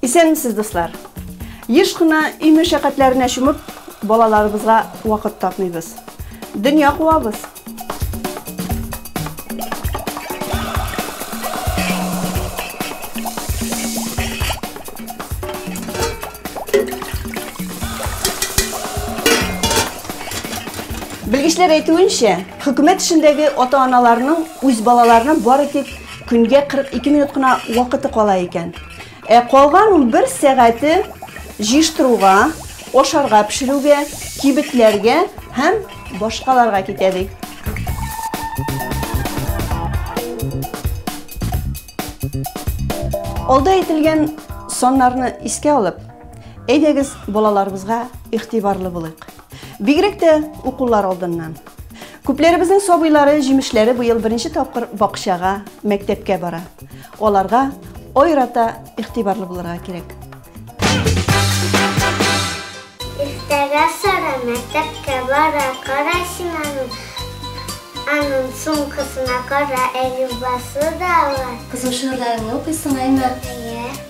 Исәнмесез, дуслар! Еш кына өй мәшәкатьләренә чумып, балаларыбызга вакыт тапмыйбыз. Дөнья куабыз. Белгечләр әйтүенчә, хөкүмәт эшендәге ата-аналарның үз балаларына бары тик көнгә 42 минут кына вакыты кала икән. Ә калган унбер сәгате җыештыруга, ашарга пешерүгә, кибетләргә һәм башкаларга китә, ди. Алда әйтелгән саннарны искә алып, әйдәгез балаларыбызга игътибарлы булыйк. Бигрәк тә укулар алдыннан. Күпләребезнең сабыйлары, җимешләре быел беренче тапкыр бакчага, мәктәпкә бара. Аларга айрата игътибарлы булырга кирәк. Иртәгә Сара мәктәпкә бара, кара син аны. Аның сумкасына кара әлюбасы да бар. Кызым, шигырьләреңне укыйсың, әйме? Әйе.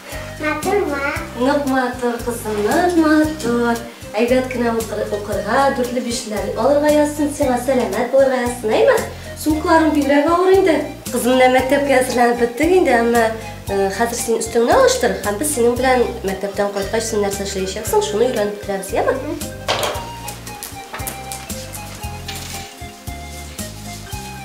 Матурма. Нык матур, кызым, нык матур. Әйбәт кенә укырга, дүртле бишле алырга язсын сиңа, сәламәт булырга язсын, әйме? Сумкаларың бигрәк авыр инде. Кызым, менә мәктәпкә әзерләнеп беттең инде, әмма э, хәзер син өстеңне алыштыр, һәм без синең белән мәктәптән кайткач син нәрсә эшләячәксең, шуны өйрәнеп киләбез, яме?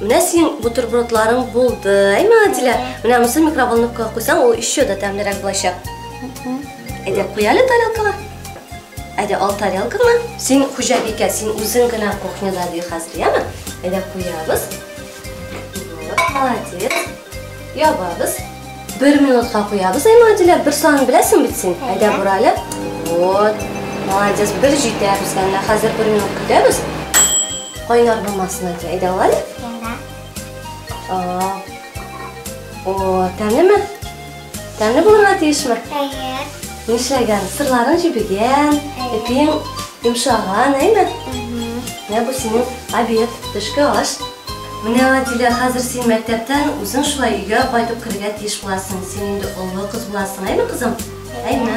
Менә синең бутербродларың булды. Әйме, Адилә, менә монысы микроволновкага куйсаң, ул еще да тәмлерәк булачак. Әйдә, куяле тарелкага. Әйдә, ал тарелкаңа. Син хуҗабикә, син үзең генә кухняда ди хәзер, яме? Әйдә, куябыз. Молодец. Ябабыз. Бер минутка куябыз, әйме, Адилә, бер сан беләсең бит син. Әйдә, бурале. Вот. Молодец, бер җитә безгә. Хәзер бер минут көтәбез. Кайнар булмасын әти, әйдә алай? Әйдә. О, тәмлеме? Тәмле булырга тиешме? Әйе. Нишләгән? Сырларын җибегән, ипиң йомшаган, әйме? Менә бу синең обед, төшке аш. Менә Адилә, хәзер син мәктәптән үзең шулай өйгә кайтып керергә тиеш буласың. Син инде олы кыз буласың, әйме, кызым? Әйме.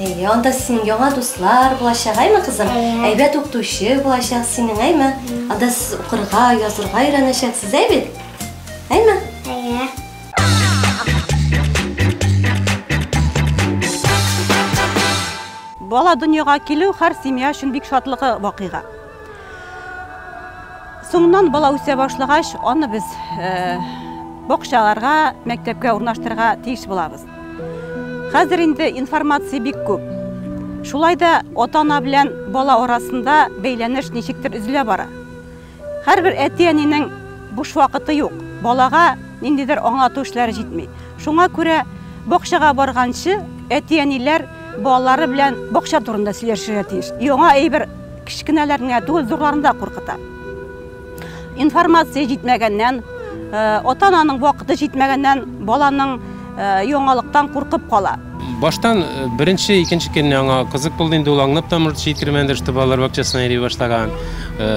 Әйе, анда синең яңа дуслар булачак, әйме, кызым? Әйе. Әйбәт укытучы булачак синең, әйме? Анда сез укырга, язырга өйрәнәчәксез, әй бит? Әйме? Әйе. Бала дөньяга килү һәр семья өчен бик шатлыгы вакыйга. Соңыннан бала үсә башлагач, аны без э, бакчаларга, мәктәпкә урнаштырырга тиеш булабыз. Хәзер инде информация бик күп. Шулай да ата-ана белән бала арасында бәйләнеш ничектер өзелә бара. Һәрбер әти-әнинең буш вакыты юк. Балага ниндидер аңлату эшләре җитми. Шуңа күрә бакчага барганчы әти-әниләр балалары белән бакча турында сөйләшергә тиеш. Яңа әйбер кечкенәләрне генә түгел, зурларны да куркыта. Информация җитмәгәннән, ата-ананың вакыты җитмәгәннән баланың яңалыктан куркып кала. Баштан беренче, икенче көнне аңа кызык булды инде, ул аңлап та морт җиткермәде, что балалар бакчасына йөри башлаган.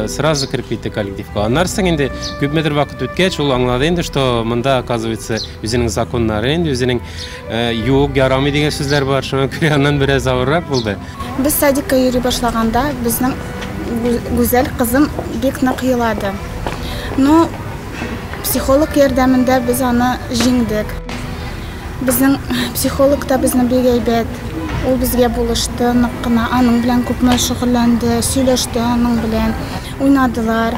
Сразу кереп китте коллективка. Аннары соң инде күпмедер вакыт үткәч, ул аңлады инде, что монда, оказывается, үзенең законнары, инде үзенең Юк, ярамый дигән сүзләр бар, шуңа күрә аннан бераз авыррак булды. Без садикка йөри башлаганда безнең гүзәл кызым бик нык елады. Ну, психолог ярдәмендә без аны җиңдек. Безнең психолог та безне бик әйбәт. Ул безгә булышты, нык кына аның белән күпме шөгыльләнде, сөйләште аның белән, уйнадылар.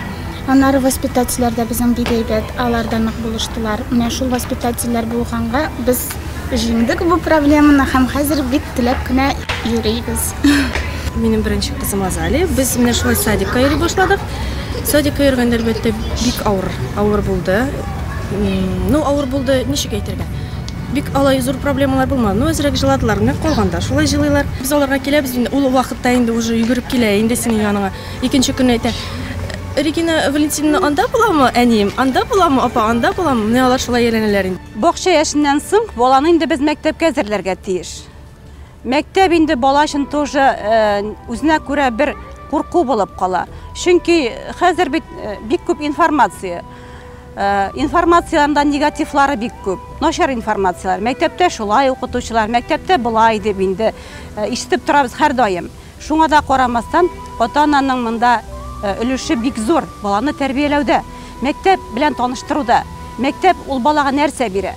Аннары воспитательләр дә безнең бик әйбәт, алар да нык булыштылар. Менә шул воспитательләр булганга без җиңдек бу проблеманы һәм хәзер бик теләп кенә йөрибез. Минем беренче кызым Азали. Без менә шулай садикка йөри башладык. Садикка йөргәндә, әлбәттә, бик авыр, авыр булды. Ну, авыр булды, ничек әйтергә? Бик алай зур проблемалар булмады. Ну, әзрәк җыладылар, менә калганда шулай җылыйлар. Без аларга киләбез, ул вакытта инде уже йөгереп килә инде синең яныңа. Икенче көнне әйтә, Регина Валентиновна анда буламы, әнием, анда буламы, апа, анда буламы? Менә алар шулай әйләнәләр инде. Бакча яшеннән соң баланы инде без мәктәпкә әзерләргә тиеш. Мәктәп инде бала өчен тоже үзенә күрә бер курку булып кала. Чөнки хәзер бит бик күп информация. Информациянең дә негативлары бик күп. Начар информацияләр. Мәктәптә шулай укытучылар, мәктәптә болай дип инде ишетеп торабыз һәрдаим. Шуңа да карамастан, ата-ананың монда өлеше бик зур, баланы тәрбияләүдә, мәктәп белән таныштыруда. Мәктәп, ул балага нәрсә бирә?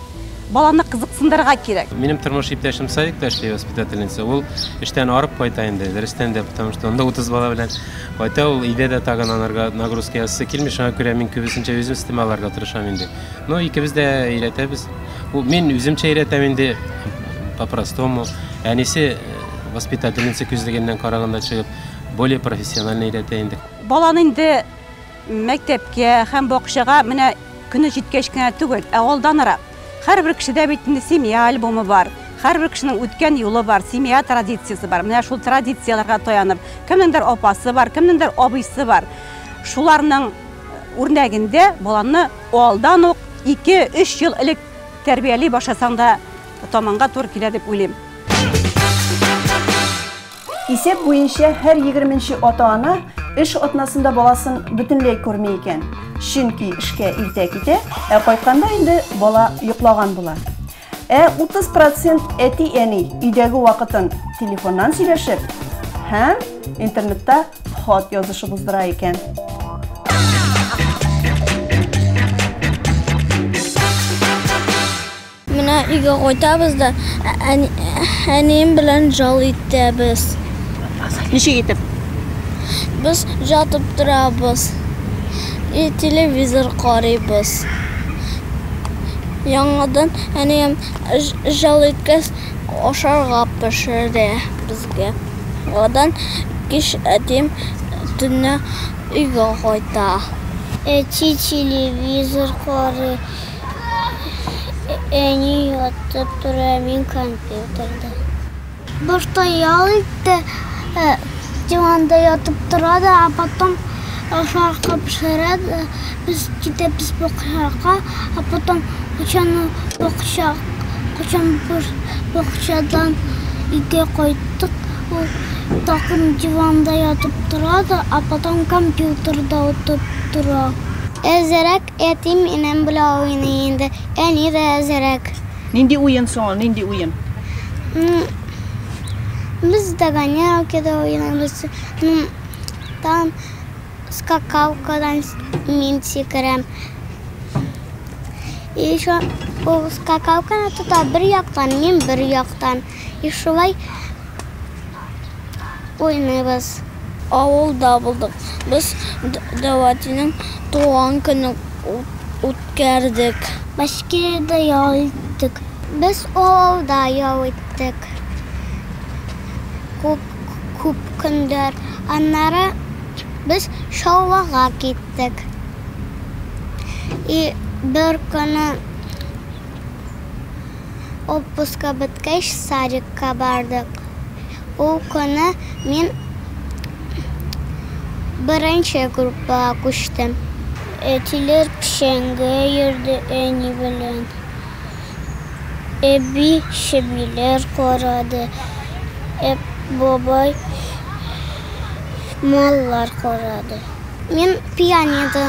Баланы кызыксындырырга кирәк. Минем тормыш иптәшем садикта эшли, воспитательница. Ул эштән арып кайта инде, дөрестән дә, потому что анда 30 бала белән кайта ул. Өйдә дә тагын анарга нагрузка ясыйсы килми, шуңа күрә мин күбесенчә үзем өстемә алырга тырышам инде. Ну, икебез дә өйрәтәбез. Мин үземчә өйрәтәм инде, по-простому. Әнисе, Воспитательница күзлегеннән караганда чыгып, более профессионально өйрәтә инде. Баланы инде мәктәпкә һәм бакчага менә көне җиткәч кенә түгел, ә алданрак. Һәрбер кешедә бит инде семья альбомы бар, һәрбер кешенең үткән юлы бар, семья традициясе бар. Менә шул традицияләргә таянып, кемнеңдер апасы бар, кемнеңдер абыйсы бар. Шуларның үрнәгендә баланы алдан ук ике-өч ел элек тәрбияли башласаң да, томанга туры килә дип уйлыйм. Исәп буенча һәр егерменче ата-ана эш атнасында баласын бөтенләй күрми икән. Чөнки эшкә иртә китә, ә кайтканда инде бала йоклаган була. Ә 30% әти-әни өйдәге вакытын телефоннан сөйләшеп һәм интернетта хат язышып уздыра икән. Менә өйгә кайтабыз да әнием белән жал итәбез. Ничек итеп? Без жатып торабыз. И телевизор карыйбыз. Яңадан әнием жал иткәс ашарга пешерә безгә. Яңадан кич әтием төнлә өйгә кайта. Әти телевизор карый. Әни ятып тора, мин компьютерда. Башта ял итте, э, диванда ятып тора да, а потом ашарга пешерә дә, без китәбез бакчага, а потом кочаны бакча, кочан бакчадан өйгә кайттык, ул тагын диванда ятып тора да, а потом компьютерда утырып тора. Әзрәк Әтием, энем белән уйный инде, әни дә әзрәк. Нинди уен соң ул, нинди уен? Без догонялки да уйныйбыз, там скакалкадан мин сикерәм. И еще ул скакалканы тота бер яктан, мин бер яктан. И шулай. уйныйбыз. Авылда булдык. Без Дәватиның туган көнен үткәрдек. Башкирда ял иттек. Без авылда ял иттек. Күп көннәр. Аннары без Чаллыга киттек. И беркөнне. Отпускы беткәч, садикка бардык. Ул көнне мин беренче группага күчтем. Әтиләр печәнгә йөрде әни белән. Әби чебиләр карады, ә бабай маллар карады. Мин пианино.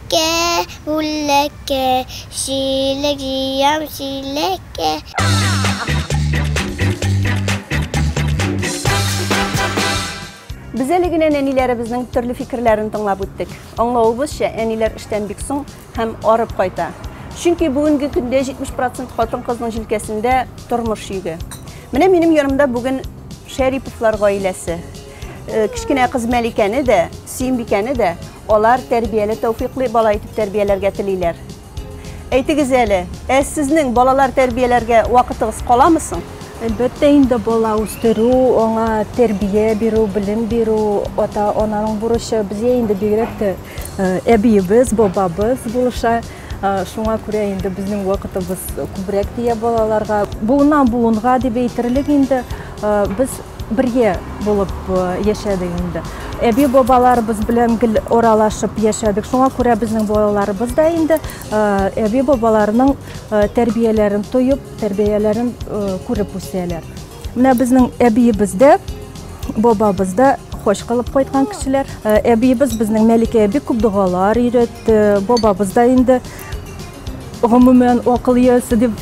Чиләккә, үләккә, чиләк җыям, чиләккә. Без әле генә нәниләребезнең төрле фикерләрен тыңлап үттек. Аңлавыбызча, әниләр эштән бик соң һәм арып кайта. Чөнки бүгенге көндә 70 процент хатын-кызның җилкәсендә тормыш йөге. Менә минем янымда бүген Шәриповлар гаиләсе. Кечкенә кыз Мәликәне дә, Сөембикәне дә Алар тәрбияле тәүфиклы бала итеп тәрбияләргә телиләр. Әйтегез әле, ә сезнең балалар тәрбияләргә вакытыгыз каламы соң? Әлбәттә инде, бала үстерү, аңа тәрбия бирү, белем бирү, ата-ананың бурычы. Безгә инде бигрәк тә әбиебез, бабабыз булыша. Шуңа күрә инде безнең вакытыбыз күбрәк тия балаларга. Буыннан-буынга дип әйтерлек инде, без бергә булып яшәдек инде. Әби-бабаларыбыз белән гел аралашып яшәдек. Шуңа күрә безнең балаларыбыз да инде әби-бабаларының тәрбияләрен тоеп, тәрбияләрен күреп үсәләр. Менә безнең әбиебез дә, бабабыз да хош кылып кайткан кешеләр. Э, әбиебез безнең Мәликә бик күп догалар өйрәтте. Бабабыз да инде гомумән акыл иясе дип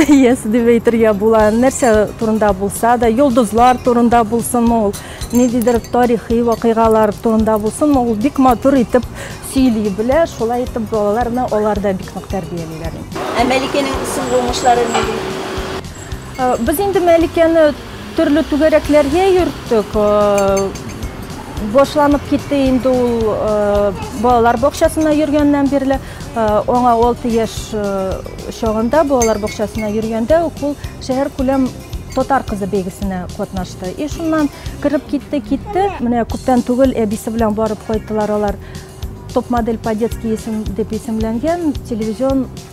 иясе дип әйтергә була. Нәрсә турында булса да, йолдызлар турында булсын ул, ниндидер тарихи вакыйгалар турында булсын ул бик матур итеп сөйли белә. Шулай итеп балаларны алар да бик нык тәрбиялиләр. Ә Мәликәнең исем булмышлары нинди? Без инде Мәликәне төрле түгәрәкләргә йөрттек. Башланып китте инде ул балалар бакчасына йөргәннән бирле. Аңа 6 яшь чагында балалар бакчасына йөргәндә үк ул шәһәр күләм татар кызы бәйгесенә катнашты. И шуннан кереп китте, китте. Менә күптән түгел әбисе белән барып кайттылар алар. Топ-модель по-детски дип исемләнгән телевизион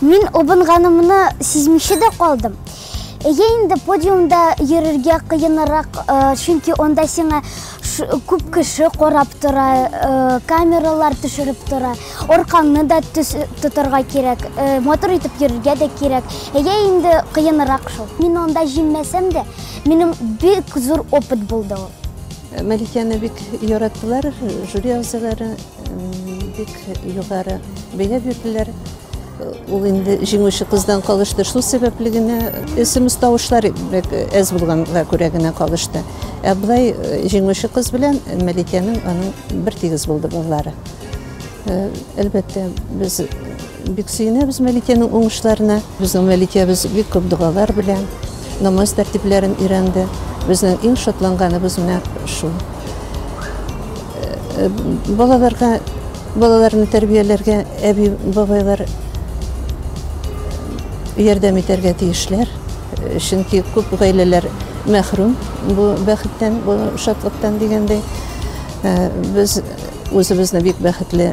Мин обынганымны сизмичә дә калдым. Әйе инде подиумда йөрергә кыенрак, э, чөнки анда сиңа күп кеше карап тора, э, камералар төшереп тора. Аркаңны да тотарга кирәк, э, мотор итеп йөрергә дә кирәк. Әйе инде кыенрак шул. Мин анда җиңмәсәм дә, минем бик зур опыт булды ул. Мәликәне бик яраттылар жюри әгъзалары. Бик югары бәя бирделәр. Ул инде җиңүче кыздан калышты. Шул сәбәпле генә смс тавышлар бик әз булганга күрә генә калышты. Ә былай э, җиңүче кыз белән Мәликәнең аның бер тигез булды балалары. Э, Әлбәттә, без Бик сөенәбез Мәликәнең уңышларына. Безнең Мәликәбез бик күп догалар белән намаз тәртипләрен өйрәнде. Безнең иң шатланганыбыз менә шул. Э, балаларга балаларны тәрбияләргә әби бабайлар ярдәм итәргә тиешләр э, чөнки күп гаиләләр мәхрүм бу бәхеттән бу шатлыктан дигәндәй э, без үзебезне бик бәхетле